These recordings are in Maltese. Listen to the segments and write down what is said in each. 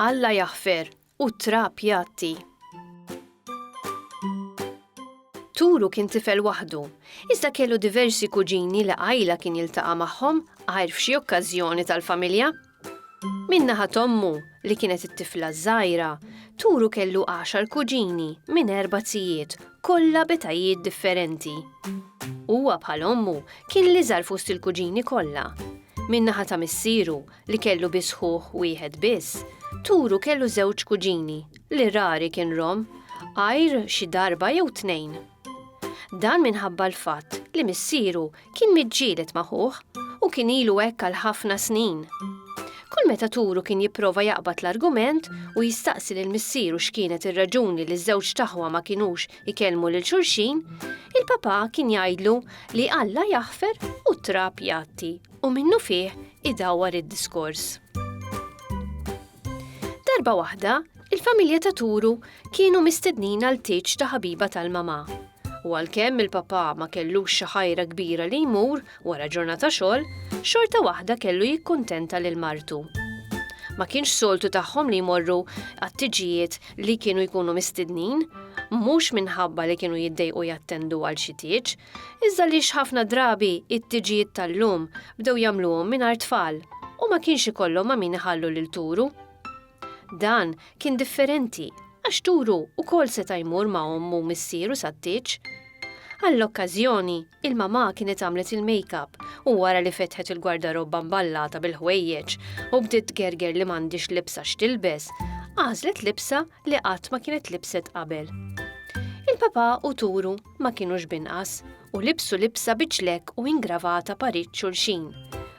Alla jaħfer u trab jatti. Turu kien tifel waħdu, iżda kellu diversi kuġini li għajla kien jiltaqa' magħhom għajr f'xi okkażjoni tal-familja. Minn naħat ommu, li kienet it-tifla ż-żgħira, Turu kellu għaxar kuġini minn erba' tijiet, kollha b'etajiet differenti. Huwa bħal ommu kien l-iżgħar fost il-kuġini kollha. Minn naħa ta' missieru, li kellu biss ħuh wieħed biss, Turu kellu żewġ kuġini, li rari kien rom, għajr xi darba jew tnejn. Dan minħabba l-fatt li missieru kien miġġielet ma' ħuh u kien ilu hekk għal ħafna snin. Kull meta turu kien jipprova jaqbad l-argument u jistaqsi lil missieru x'kienet ir-raġuni li ż-żewġ taħwa ma kinux ikellmu lil xulxin, il-papà kien jgħidlu li Alla jaħfer u t-trab jgħatti u minnu fih idawwar id-diskors. Darba waħda, il-familja ta' Turu kienu mistednin għal tiċ ta' ħabiba tal-mama. U għalkemm il-papa ma kellux xi ħajra kbira li jmur wara ġurnata xogħol, xorta waħda kellu jikkuntenta lil martu. Ma kienx soltu tagħhom li jmorru għat-tiġijiet li kienu jkunu mistednin, mhux minħabba li kienu jiddejqu jattendu għal xi tieġ, Iżda għaliex ħafna drabi it-tiġijiet tal-lum bdew jagħmluhom mingħajr tfal u ma kienx ikollhom ma' min iħallu lil Turu? Dan kien differenti għax Turu wkoll seta' jmur ma' ommu u missieru sat-tieġ. Għall-okkażjoni, il-mamà kienet għamlet il-makeup u wara li fetħet il-gwardarobba mballata bil-ħwejjeġ u bdiet tgerger li m'għandhiex libsa x'tilbes, għażlet libsa li qatt ma kienet libset qabel. Il-papà u Turu ma kinux b'inqas u libsu libsa bi ċlekk u ingravata parid xulxin,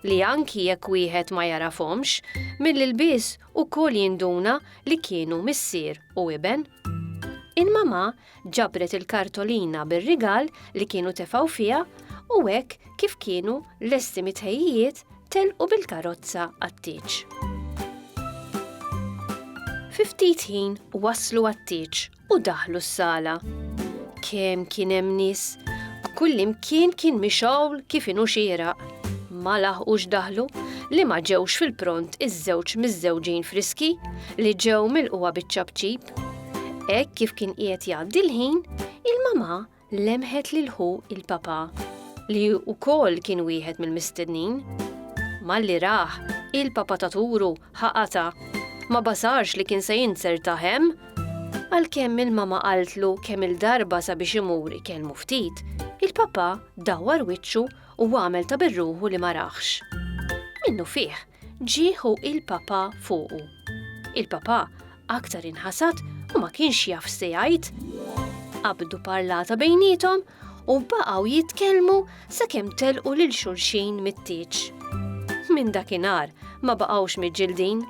li anki jekk wieħed ma jagħrafhomx, mill-ilbies ukoll jinduna li kienu missier u iben. Il-mamà ġabret il-kartolina bir-rigal li kienu tefgħu fiha u hekk kif kienu lesti mit-tħejjijiet telqu bil-karozza għat-tieġ. Fi ftit ħin waslu għat-tieġ u daħlu s-sala. Kemm kien hemm nies, kullimkien kien mixgħul kif inhu xieraq. Ma laħqux daħlu li ma ġewx fil-pront iż-żewġ miżżewġin friski li ġew milquha biċ-ċapċip. Hekk kif kien qiegħed jgħaddi l-ħin, il-mama lemħet lil ħu il-Papa, li wkoll kien wieħed mill-mistednin. Malli rah, il-Papa ta' turu ħa qata', ma basarx li kien se jinzertah hemm. Għalkemm il-mama qaltlu kemm il-darba sabiex imur ikellmu ftit, il-Papa dawwar wiċċu u għamel ta' birruħu li ma rahx. Minnufih, ġie ħu il-Papa fuqu. Il-Papa Aktar inħasad u ma kienx jaf se jgħid. Qabdu parlata bejnietom u baqgħu jitkellmu sakemm telqu lil xulxin mit-tieġ. Minn dakinhar ma baqgħux miġġildin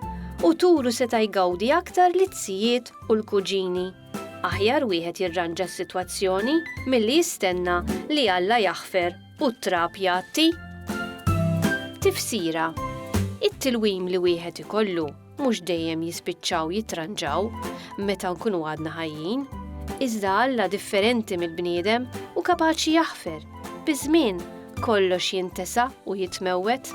u turu seta' jgawdi aktar li t-sijiet u l-kuġini. Aħjar wieħed jirranġa s-sitwazzjoni milli jistenna li Alla jaħfer u t-trab jgħatti. Tifsira It-tilwim li wieħed ikollu mhux dejjem jispiċċaw jitranġaw meta nkunu għadna ħajjin, iżda Alla differenti mill-bniedem u kapaċi jaħfer, biż-żmien kollox jintesa u jitmewwet.